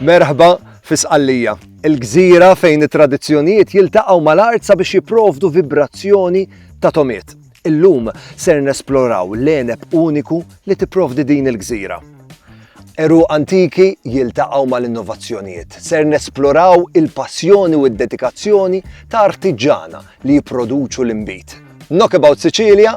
Merħba fi Sqallija, il-gżira fejn it-tradizzjonijiet jiltaqgħu mal-art sabiex jipprovdu vibrazzjoni ta' tomiet. Illum ser nesploraw l-għeneb uniku li tipprovdi din il-gżira. Għeruq antiki jiltaqgħu mal-innovazzjonijiet. Ser nesploraw il-passjoni u d-dedikazzjoni ta' artiġġana li jipproduċu l-inbid. Knockabout Sicilia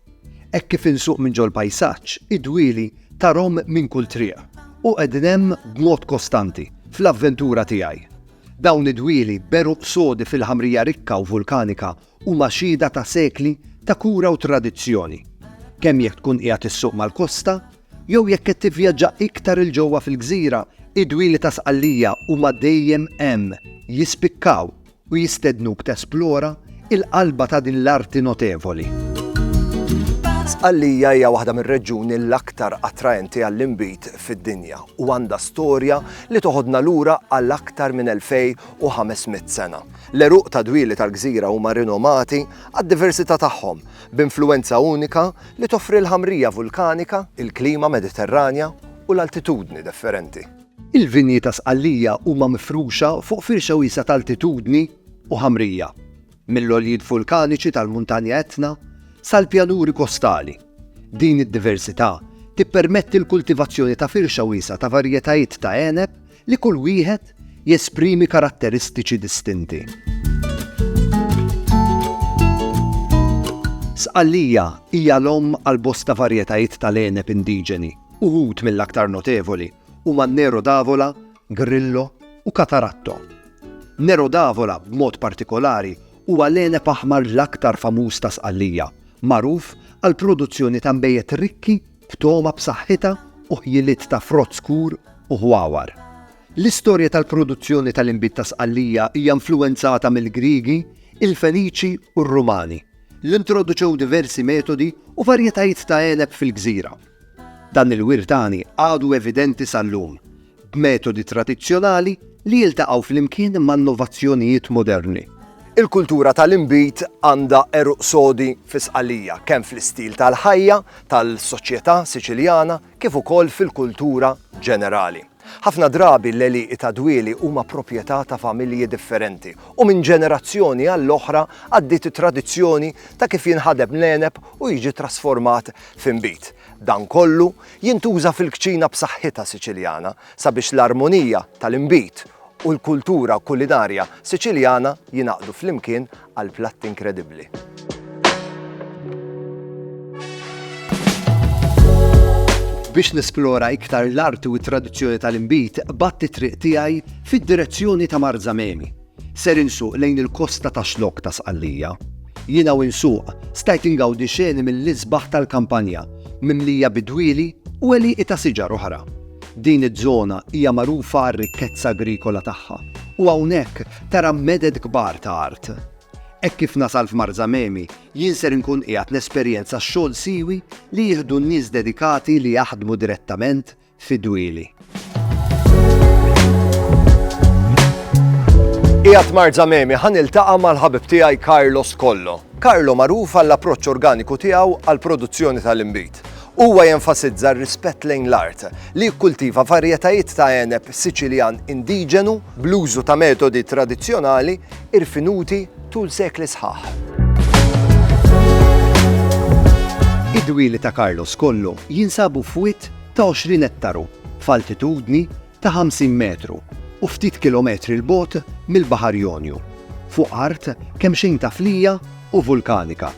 Hekk kif insuq minn ġol-pajsaġġ, id-dwieli tarhom minn kull triq u qegħdin hemm b'mod kostanti fl-avventura tiegħi. Dawn id-dwieli b'għeruq sodi fil-ħamrija rikka u vulkanika huma xhieda ta' sekli ta' kura u tradizzjoni, kemm jekk tkun qiegħed issuq mal-kosta jew jekk qed tivvjaġġa iktar 'il ġewwa fil-gżira, id-dwieli ta' Sqallija huma dejjem hemm, jispikkaw u jistednuk tesplora l-qalba ta' din l-arti notevoli. Sqallija hija waħda mir-reġjuni l-aktar attraenti għall-inbid fid-dinja u għandha storja li toħodna lura għal aktar minn 2,500 sena. L-għeruq ta' dwieli tal-gżira huma rinomati għad-diversità tagħhom, b'influwenza unika li toffri l-ħamrija vulkanika, il-klima Mediterranja u l-altitudni differenti. Il-vinji ta' Sqallija huma mifruxa fuq firxa wiesgħa ta' altitudni u ħamrija, mill-għoljiet vulkaniċi tal-Muntanja Etna sal-pjanuri kostali. Din id-diversità tippermetti l-kultivazzjoni ta' firxa wiesgħa ta' varjetajiet ta' għeneb li kull wieħed jesprimi karatteristiċi distinti. Sqallija hija l-omm għal bosta varjetajiet tal-għeneb indiġeni. Uħud mill-aktar notevoli huma Nero d'Avola, Grillo u Cataratto. Nero d'Avola b'mod partikolari huwa l-għeneb aħmar l-aktar famuż ta' Sqallija, magħruf għall-produzzjoni ta' nbejjed rikki b'togħma b'saħħitha u ħjiliet ta' frott skur u ħwawar. L-istorja tal-produzzjoni tal-inbid ta' Sqallija hija influwenzata mill-Griegi, il-Feniċi u r-Rumani, li introduċew diversi metodi u varjetajiet ta' għeneb fil-gżira. Dan il-wirt għani għadu evidenti sal-lum, b'metodi tradizzjonali li jiltaqgħu flimkien ma' innovazzjonijiet moderni. Il-kultura tal-inbid għandha għeruq sodi fi Sqallija, kemm fl-istil tal-ħajja tal-soċjetà Siċiljana kif ukoll fil-kultura ġenerali. Ħafna drabi l-għelieqi ta' dwieli huma proprjetà ta' familji differenti u minn ġenerazzjoni għall-oħra għaddiet it-tradizzjoni ta' kif jinħadeb l-għeneb u jiġi trasformat f'inbid. Dan kollu jintuża fil-kċina b'saħħitha Siċiljana sabiex l-armonija tal-inbid u l-kultura kulinarja Siċiljana jingħaqdu flimkien għal platt inkredibbli. Biex nesplora iktar l-art u t-tradizzjoni tal-inbid, batt it-triq tiegħi fid-direzzjoni ta' Mar Zamemi. Ser insuq lejn il-kosta ta' xlok ta' Sqallija. Jiena u insuq stajt ingawdi xeni mill-isbaħ tal-kampanja, mimlija bidwieli u eliqi ta' siġar oħra. Din iż-żona hija magħrufa għar-rikkezza agrikola tagħha u hawnhekk Tara meded kbar ta' art. Hekk kif nasal f'Marzamemi, jien ser inkun qiegħed nesperjenza x-xogħol siewi li jieħdu n-nies dedikati li jaħdmu direttament fid-dwieli. Qiegħed Marzamemi ħa niltaqa' mal-ħabib tiegħi Carlos Kollo. Carlo magħruf għall-approċċ organiku tiegħu għall-produzzjoni tal-inbid. Huwa jenfasizza r-rispett lejn l-art, li jikkultiva varjetajiet ta' għeneb Siċiljan indiġenu, bl-użu ta' metodi tradizzjonali irfinuti tul sekli sħaħ. Id-dwieli ta' Carlos kollu jinsabu f'wied ta' 20 ettaru, f'altitudni ta' 50 metru u ftit kilometri 'l bogħod mill-Baħar Jonju, fuq art kemxejn taflija u vulkanika.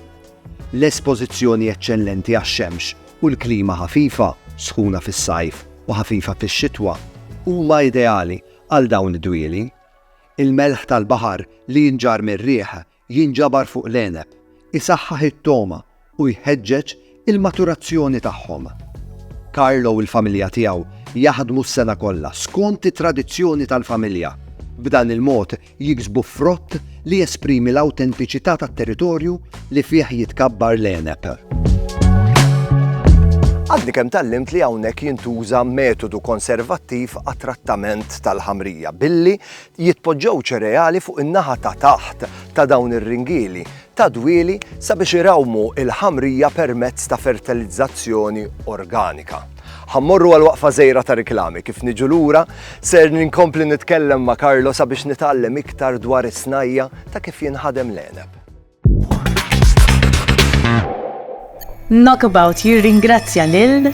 L-espożizzjoni eċċellenti għax-xemx u l-klima ħafifa, sħuna fis-sajf u ħafifa fix-xitwa, huma ideali għal dawn id-dwieli. Il-melħ tal-baħar li jinġarr mir-riħ jinġabar fuq l-għeneb, isaħħaħ it-togħma u jħeġġeġ il-maturazzjoni tagħhom. Carlo u l-familja tiegħu jaħdmu s-sena kollha skont it-tradizzjoni tal-familja. B'dan il-mod jiksbu frott li jesprimi l-awtentiċità tat-territorju li fih jitkabbar l-għeneb. Għadni kemm tgħallimt li hawnhekk jintuża metodu konservattiv għat-trattament tal-ħamrija billi jitpoġġew ċereali fuq in-naħa ta' taħt ta' dawn ir-ringieli ta' dwieli sabiex irawmu il-ħamrija permezz ta' fertilizzazzjoni organika. Ħa mmorru għal waqfa żgħira ta' riklami, kif niġu lura ser ninkompli nitkellem ma' Carlo sabiex nitgħallem iktar dwar is-snajja' ta' kif jinħadem l-għeneb. Knockabout jirringrazzja lil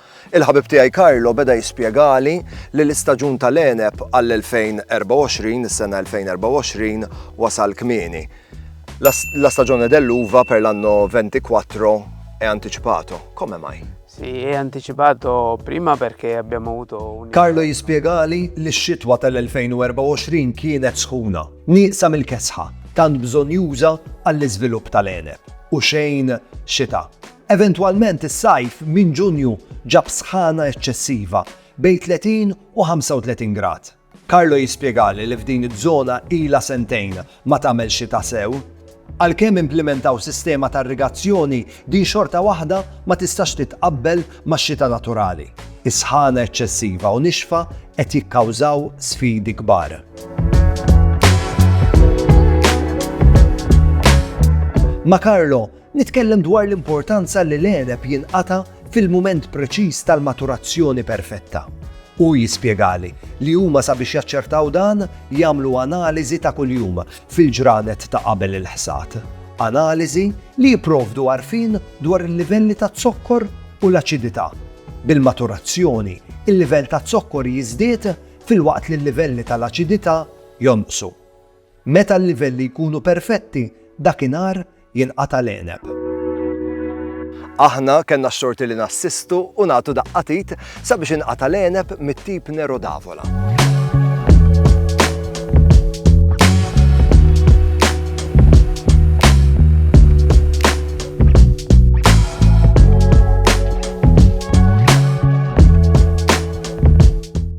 Il-ħabib tiegħi Carlo beda jispjegali li l-istaġun tal-għeneb għall-2024, is-sena 2024, wasal kmieni. La stagione dell'uva per l'anno 24 è anticipato, come mai? Sì, è anticipato prima perché abbiamo avuto un... Carlo jispjegali li x-xitwa tal-2024 kienet sħuna, nieqsa mill-kesħa, tant bżonjuża għall-iżvilupp tal-għeneb, u xejn xita. Eventwalment is-sajf minn Ġunju ġab sħana eċċessiva bejn 30 u 35 grad. Carlo jispjegali li f'din iż-żona ilha sentejn ma tagħmel xita sew. Għalkemm implimentaw sistema ta' irrigazzjoni, din xorta waħda ma tistax titqabbel max-xita naturali. Is-sħana eċċessiva u nixfa qed jikkawżaw sfidi kbar. Ma' Carlo, Nitkellem dwar l-importanza li l-għeneb jinqata' fil-mument preċiż tal-maturazzjoni perfetta. Hu jispjegali li huma sabiex jaċċertaw dan jagħmlu analiżi ta' kuljum fil-ġranet ta' qabel il-ħsad. Analiżi li jipprovdu għarfien dwar il-livelli taz-zokkor u l-aċidità. Bil-maturazzjoni, il-livell taz-zokkor jiżdied filwaqt li l-livelli tal-aċidità jonqsu. Meta l-livelli jkunu perfetti, dakinhar jinqata' l-għeneb. Aħna kellna x-xorti li nassistu u nagħtu daqqa t'id sabiex inqata' l-għeneb mit-tip Nero d'Avola.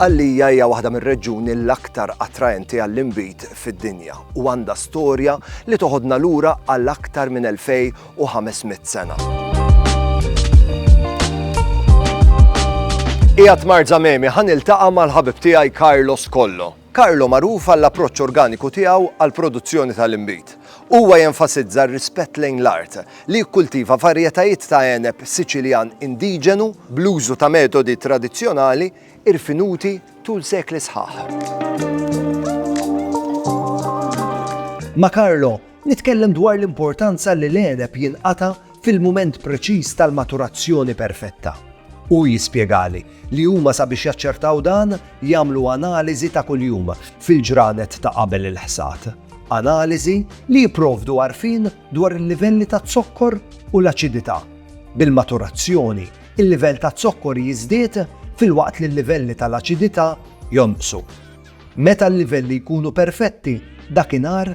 Sqallija hija waħda mir-reġjuni l-aktar attraenti għall-inbid fid-dinja u għandha storja li toħodna lura għal aktar minn 2500 sena. Ijat Marzamemi ħan iltaqa' mal-ħabib tiegħi Carlos Kollo. Carlo magħruf għall-approċċ organiku tiegħu għall-produzzjoni tal-inbid. Huwa jenfasizza r-rispett lejn l-art, li jikkultiva varjetajiet ta' għeneb Siċiljan indiġenu bl-użu ta' metodi tradizzjonali irfinuti tul sekli sħaħ. Ma' Carlo Nitkellem dwar l-importanza li l-għeneb jinqata' fil-mument preċiż tal-maturazzjoni perfetta. Hu jispjegali li huma sabiex jaċċertaw dan jagħmlu analiżi ta' kuljum fil-ġranet ta' qabel il-ħsad. Analiżi li jipprovdu għarfien dwar il-livelli taz-zokkor u l-aċidità. Bil-maturazzjoni, il-livell taz-zokkor jiżdied filwaqt li l-livelli tal-aċidità jonqsu. Meta l-livelli jkunu perfetti, dakinhar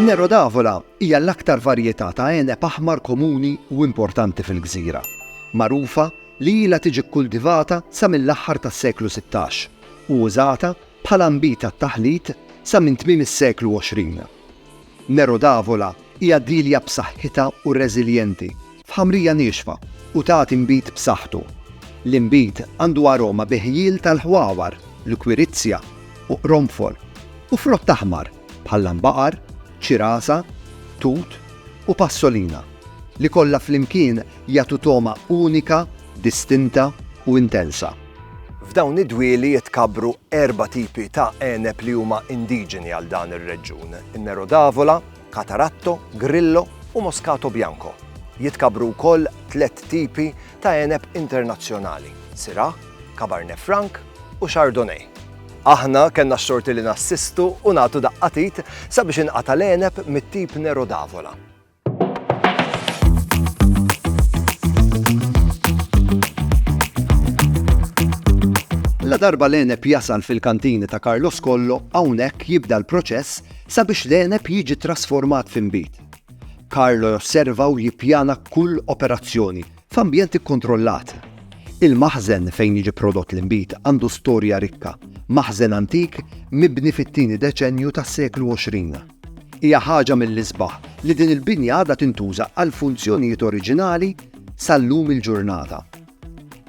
Nero d'Avola hija l-aktar varjetà ta' għeneb aħmar komuni u importanti fil-gżira, magħrufa li ilha tiġi kkultivata sa mill-aħħar tas-seklu sittax u użata bħala nbid għat-taħlit sa minn tmiem is-seklu għoxrin. Nero d'Avola hija dielja b'saħħitha u reżiljenti f'ħamrija niexfa u tagħti nbid b'saħħtu. L-inbid għandu aroma bi ħjiel tal-ħwawar, l-kwirizja u qronfol, u frott aħmar bħal lambaqar, ċirasa, tut u passolina, li kollha flimkien jagħtu togħma unika, distinta u intensa. F'dawn id-dwieli jitkabru erba' tipi ta' għeneb li huma indiġeni għal dan ir-reġjun, in-Nero d'Avola, Cataratto, Grillo u Moscato Bianco. Jitkabru wkoll tliet tipi ta' għeneb internazzjonali, Syrah, Cabernet Franc u Chardonnay. Aħna kellna x-xorti li nassistu u nagħtu daqqatit sabiex inqata' l-għeneb mit-tip Nero d'Avola. La darba l-enep jasal fil-kantini ta' Carlos Kollo, hawnhekk jibda l-proċess sabiex l-enep jiġi trasformat f'imbit. Carlo josserva u jippjana kull operazzjoni F'ambjent ikkontrollat, il-maħżen fejn jiġi prodott l-inbid għandu storja rikka, maħżen antik mibni fit-tieni deċennju tas-seklu 20. Hija ħaġa mill-isbaħ li din il-binja għadha tintuża għall-funzjonijiet oriġinali sal-lum il-ġurnata.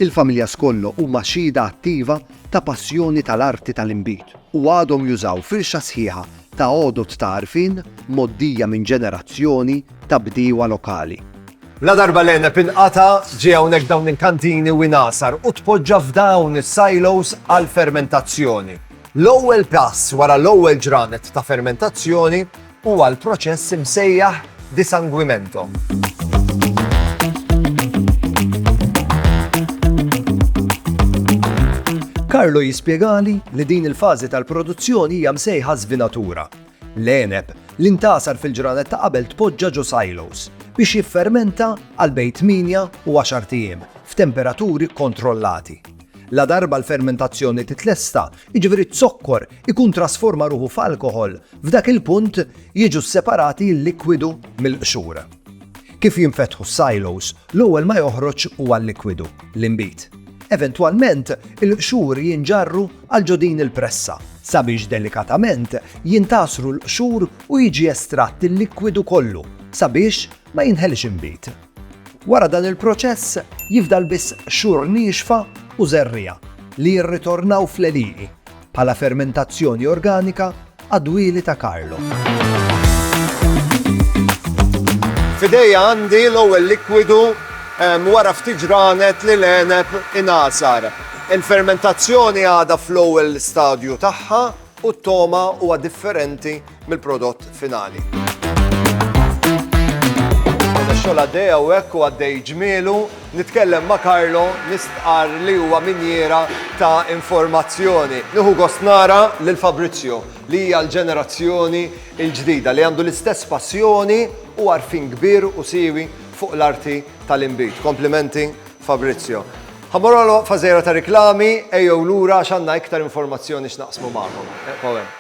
Il-familja Scollo huma xhieda attiva ta' passjoni tal-arti tal-inbid u għadhom jużaw firxa sħiħa ta' għodod ta' għarfien mgħoddija minn ġenerazzjoni ta' bdiewa lokali. Ladarba l-għeneb inqata', ġie hawnhekk dawn il-kantini u ingħasar u tpoġġa f'dawn is-silos għall-fermentazzjoni. L-ewwel pass wara l-ewwel ġranet ta' fermentazzjoni huwa l-proċess imsejjaħ disanguimento. Carlo jispjegali li din il-fażi tal-produzzjoni hija msejħa żvinatura. L-għeneb li ntgħasar fil-ġranet ta' qabel tpoġġa ġo silos biex jiffermenta għal bejn tmienja u għaxart ijiem f'temperaturi kkontrollati. Ladarba l-fermentazzjoni titlesta, jiġifieri z-zokkor ikun trasforma ruħu f'alkoħol, f'dak il-punt jiġu sseparati l-likwidu mill-qxur. Kif jinfetħu s-silos, l-ewwel ma joħroġ huwa l-likwidu, l-inbid. Eventwalment, il-qxur jinġarru għal ġo din il-pressa, sabiex delikatament jintgħasru l-qxur u jiġi estratt il-likwidu kollu sabiex ma jinħeliex inbid. Wara dan il-proċess, jifdal biss qxur niexfa u żerriegħa li jirritornaw fl-għelieqi bħala fermentazzjoni organika għad-dwieli ta' Carlo. F'idejja għandi l-ewwel likwidu wara ftit ġranet li l-għeneb ingħasar. Il-fermentazzjoni għadha fl-ewwel stadju tagħha u t-togħma huwa differenti mill-prodott finali. Mela xogħol għaddej hawnhekk u għaddej ġmielu, nitkellem ma' Carlo nistqar li huwa minjiera ta' informazzjoni. Nieħu gost nara lil Fabrizio li hija l-ġenerazzjoni l-ġdida li għandu l-istess passjoni u għarfien kbir u siewi fuq l-arti tal-inbid. Komplimenti Fabrizio. Ħamorolo fażera ta' riklami, ejjew lura għax għandna iktar informazzjoni x'naqsmu magħkom. Eqgħu hemm.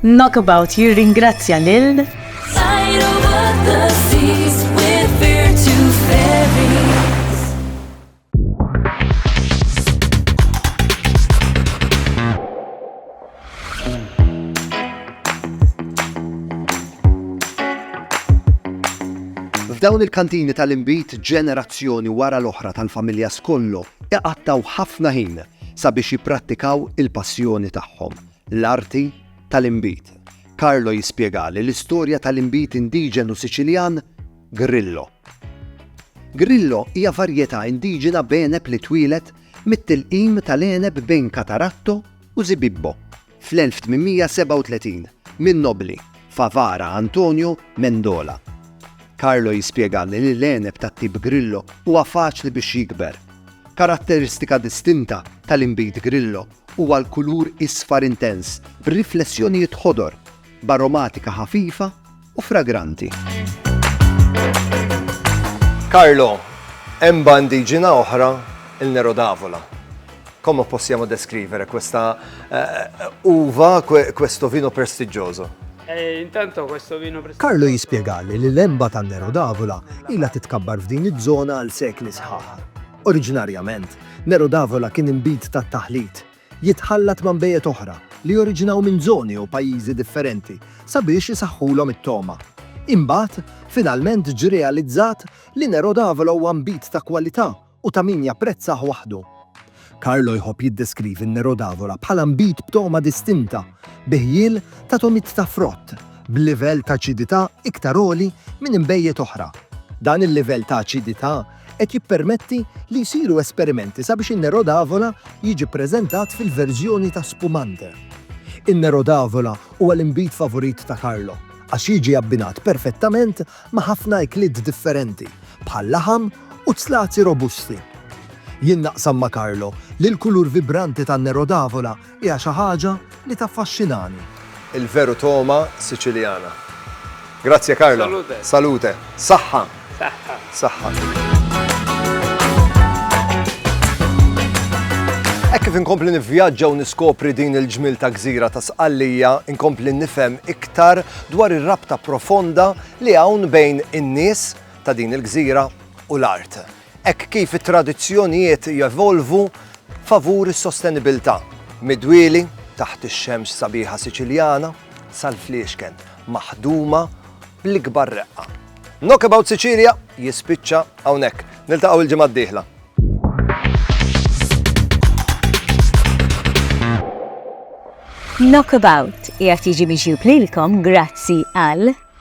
Knockabout jirringrazzja lil F'dawn il-kantini tal-inbid ġenerazzjoni wara l-oħra tal-familja Skollo iqattgħu ħafna ħin sabiex jipprattikaw il-passjoni tagħhom, l-arti tal-inbid. Carlo jispjegali l-istorja tal-inbid indiġenu Siċiljan Grillo. Grillo hija varjetà indiġena b'għeneb li twieled mit-tilqim tal-għeneb bejn Cataratto u Zibibbo. Fl-1837, min-nobbli Favara Antonio Mendola, Carlo jispjega li l-għeneb tat-tip Grillo huwa faċli biex jikber. Karatteristika distinta tal-inbid Grillo huwa l-kulur isfar intens b'riflessjonijiet ħodor, b'aromatika ħafifa, u fragranti. Carlo, hemm bandiġina oħra il Nero d'Avola. Come possiamo descrivere questa uh, uva, questo vino prestigioso? Eh, intanto questo vino Carlo jispjegali li l-emba tan Nero d'Avola ilha titkabbar f'din iż-żona għal sekli sħaħ. Oriġinarjament, Nero d'Avola kien imbid tat-taħlit jitħallat ma' nbejjed oħra li joriġinaw minn żoni jew pajjiżi differenti sabiex isaħħulhom it-togħma. Imbagħad, finalment ġie realizzat li Nero d'Avila huwa nbid ta' kwalità u ta' min japprezzah waħdu. Carlo jħobb jiddeskrivi n-Nero d'Avila bħala nbid b'togħma distinta, bi ħjiel ta' togħmiet ta' frott, b'livell ta' aċidità iktar għoli minn inbejjed oħra. Dan il-livell ta' aċidità qed jippermetti li jsiru esperimenti sabiex in-Nero d'Avola jiġi ppreżentat fil-verżjoni ta' spumante. In-Nero d'Avola huwa l-inbid favorit ta' Carlo għax jiġi abbinat perfettament ma' ħafna ikliet differenti bħal laħam u zzlazzi robusti. Jien naqsam ma' Carlo li l-kulur vibranti tan-Nero d'Avola Hija xi ħaġa li taffaxxinani. Il-veru togħma Siċiljana. Grazie Carlo. Salute. Salute. Saħħa. Saħħa. Saħħa. Hekk kif inkompli nivvjaġġa u niskopri din il-ġmil ta' gżira ta' Sqallija, inkompli nifhem iktar dwar ir-rabta profonda li hawn bejn in-nies ta' din il-gżira u l-art. hekk kif it-tradizzjonijiet jevolvu favur is-sostenibilità, mid-dwieli taħt ix-xemx sabiħa Siċiljana sal-fliexken maħduma bl-ikbar reqqa. Knockabout Sicilia jispiċċa hawnhekk. Niltaqgħu l-ġimgħa d-dieħla. Knockabout qiegħed jiġi miġjub lilkom grazzi għal